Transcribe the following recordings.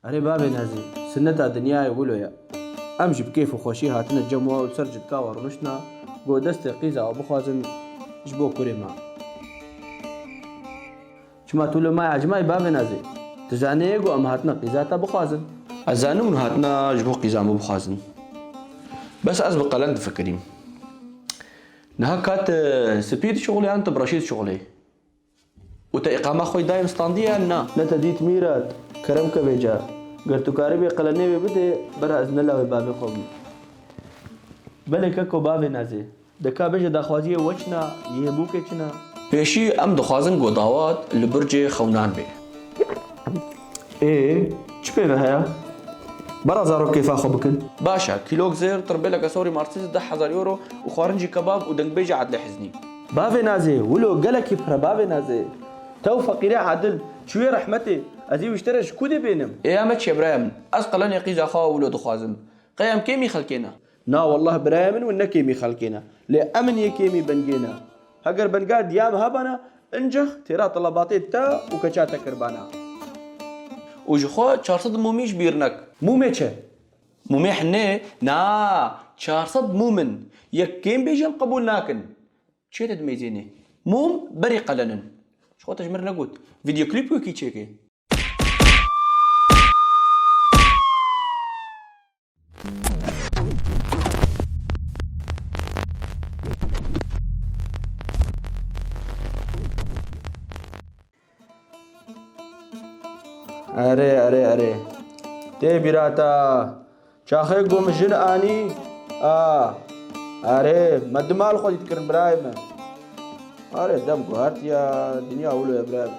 Erê bavê nezî, sineta dinyayê wilo ye. Em jî bi kêf û xweşî hatine cem we û li ser ciltka we rûniştine ku destê qîza we bixwazin ji bo kurê me. Çima tu li maya cimayî bavê nezî? Tu zaniyê ku em hatine qîza te bixwazin? Ez zanim hûn hatine ji bo qîza min bixwazin. Bes ez bi qelen difikirîm. Niha ka tu spî dişuxulî yan tu bi reşî dişuxulî? Û te îqama xwe yê dayên standî yan na? Ne te dît Mîrat? Kerem ke vê car. Ger tu karîbî qelenê wê bidê, bera ez ne lawê bavê xwe bim. Belê keko bavê nezê. Deka bêje daxwaziyê we çin a, yê hê bûkê çin a? Pêşî em dixwazin ku dawat li burcê xewnan bê. Ê, çi pêve heye? Bara zarok kêfa xwe bikin. Baş e, kîlok zêr, tirbêleke sorî martîz, deh hezar euro û xwarincî kebab û dengbêjê Edlê Hiznî. Bavê Nazê, wilo gelekî pire bavê Nazê. Tew feqîrê Edil, çûyê rehmetê, ez ê wiştera ji kû dê bênim? Ê em e çêbiraya min. Ez qelenê qîza xwe wilo dixwazim. Qey em kêm î xelkê ne. Na wallah birayê min win ne kêmî xelkê ne. Lê emin yê kêmî bingê ne. Heger binga diya min hebana incex têra telabatê te û keça te kirbana. Û ji xwe çar sed mûmî ji bîr nek. Mûmê çi? Mûmê hinê? Na, çar sed mûm in. Yek kêm bêjî em qebûl nakin. Çiyê te dimeyzênê? Mûm berî qelen in. Ji xwe te ji min re negot. Vîdeoklîp wekî çêke. Erê erê erê. Tê bîrata. Çaxê gom jin anî. A. Erê me dimal xwe dît kirin birayê me. Erê dev guhertiya dinya wilo ye birayê me.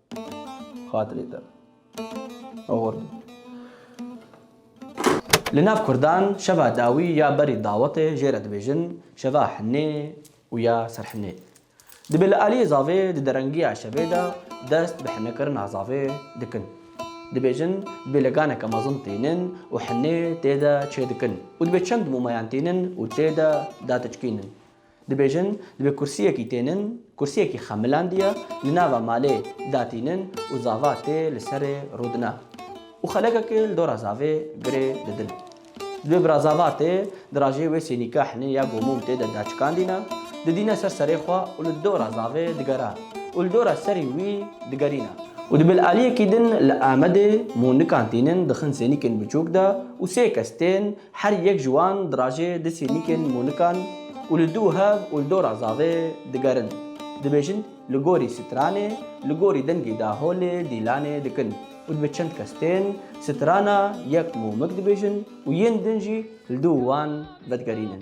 Xatirê te. Award. Li nav kurdan şeva dawî ya berî dawetê jê re dibêjin şeva hinê û ya serhinê. Dibê li aliyê zavê di derengiya şevê de dest bi hinekirina zavê dikin. Dibêjin dibê leganeke mezin tînin û hinê tê de çêdikin û dibê çend momayan tînin û tê de datiçkînin. Dibêjin, divê kursiyekî tê nin, kursiyekî xemilandiye, li nava malê datî nin û zava tê li serê rûdine û xelekekê li dora zavê girê didin. Divê bira zava tê di rajê wê sênîka hinê ya gomûm tê de daçikandîne, didîne ser serê xwe û li dora zavê digere û li dora serî wî digerîne. Û divê li aliyekî din li Amedê mûnikan tînin dixin sênîkên biçûk de û sê kes tên Her yek ji wan dirajê du sînîkên mûnikan û li dû hev û li dora zavê digerin. Dibêjin li gorî stranê, li gorî dengê daholê dîlanê dikin û dibe çend kes tên strana yek mûmik dibêjin û yên din jî li dû wan vedigerînin.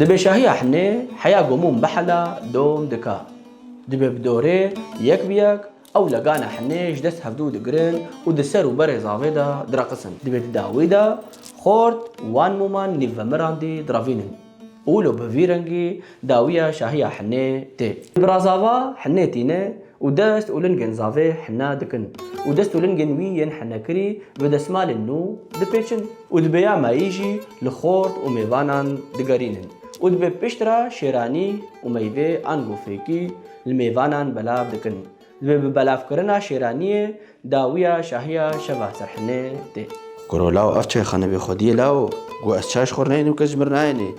Di bêşahiya hinê heya gomûn behala dom dika. Dibe bi dorê yek bi yek ew legana hinê ji dest hevdû digirin û di ser û berê zavê de diraqisin. Dibe di dawî de xort wan moman nîvvemirandî diravînin. Û lo bi vî rengî dawiya şahiya hinê tê. Birazava hinê tîne û dest û lingên zavê hina dikin û dest û lingên wî yên hinekirî bi desmalên nû dipêçin û dibê ya mayî jî li xort û mêvanan digerînin û dibê pişt re şêranî û meyvê ango fêkî li mêvanan belav dikin. Li bi belavkirina Şêraniyê dawiya şahiya şeva Serhinê tê. Goro law ev çayxane bê xwediyê law go ez çay ji xwe re nayênê û kes ji min re nayênê.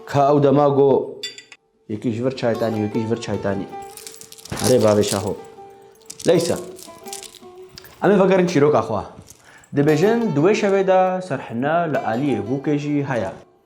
Ka ew dema go yekî ji vir çaytanî yekî ji vir çaytanî. Erê bavê şaho. Leysa. Em ê vegerin çîroka xwe. Dibêjin di wê şevê de Serhina li aliyê bûkê jî heye.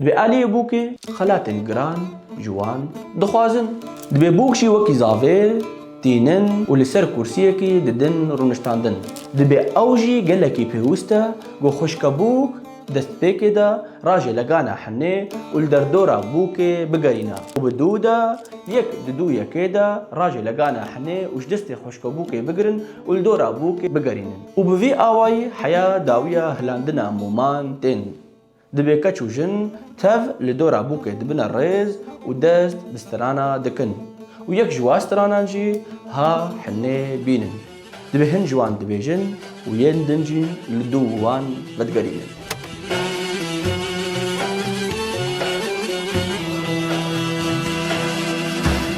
Divê aliyê bûkê xelatên giran ji wan dixwazin. Divê bûk jî wekî zavê tînin û li ser kursiyekî didin rûniştandin. Dibe ew jî gelekî pêwist e ku xwişka bûk destpêkê de rajê legana hinê û li derdora bûkê bigerîne û bi dû de yek di dû yekê de rajê legana hinê û ji destê xwişka bûkê bigirin û li dora bûkê bigerînin û bi vî awayî heya dawiya hilandina moman tên Divê keç û jin tev li dora bûkê dibine rêz û dest bi strana dikin û yek ji wan stranan jî ha hinê bînin. Divê hin ji wan dibêjin û yên din jî li dû wan vedigerînin.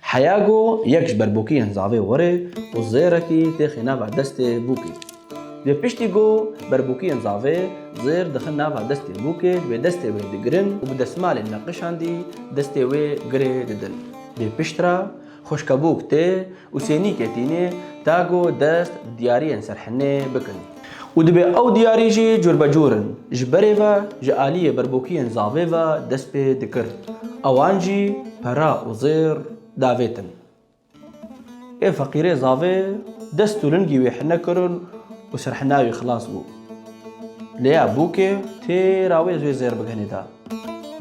Heya ku yek ji ber bûkiyên zavê werê û zêrekî têxê nava destê bûkê. Divê piştî ku ber bûkiyên zavê zêr dixin nava destê bûkê divê destê wê digirin û bi desmalê neqişandî destê wê girê didin. Divê pişt re xwişka bûk tê û sênîkê tînê ta ku dest di diyariyên ser hinê bikin. Û dibe ew diyarî jî curbecur in. Ji berê ve ji aliyê berbokiyên zavê ve dest pê dikir. Ewan jî pere û zêr davêtin. Ê feqîrê zavê dest û lingî wê hine kirin û serhina wî xilas bû. Lêya bûkê têra wê wê zêr bigenê da.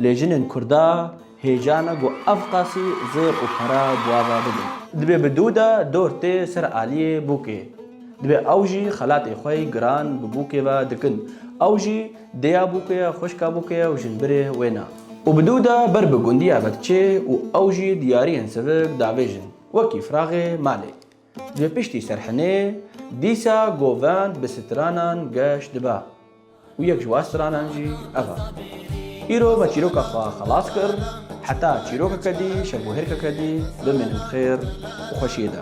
Lê jinên kurda, Hêcan e ku ev qasî zêr û para bi ava bidin. Dibê bi dû de dor tê ser aliyê bûkê. Dibê ew jî xelatê xwe yê giran bi bûkê ve dikin. Ew jî dêya bûkê ye, xwişka bûkê ye û jinbirê wê ne. Û bi dû de ber bi gundiya ve diçê û ew jî diyariyên sivik davêjin, wekî firaxê malê. Ji piştî Serhinê dîsa govend bi stranan geş dibe û yek ji wan stranan jî ev e. Îro me çîroka xwe xelas kir, heta çîrokeke dî, şevûhêrkeke dî bimînin bi xêr û xweşiyê de.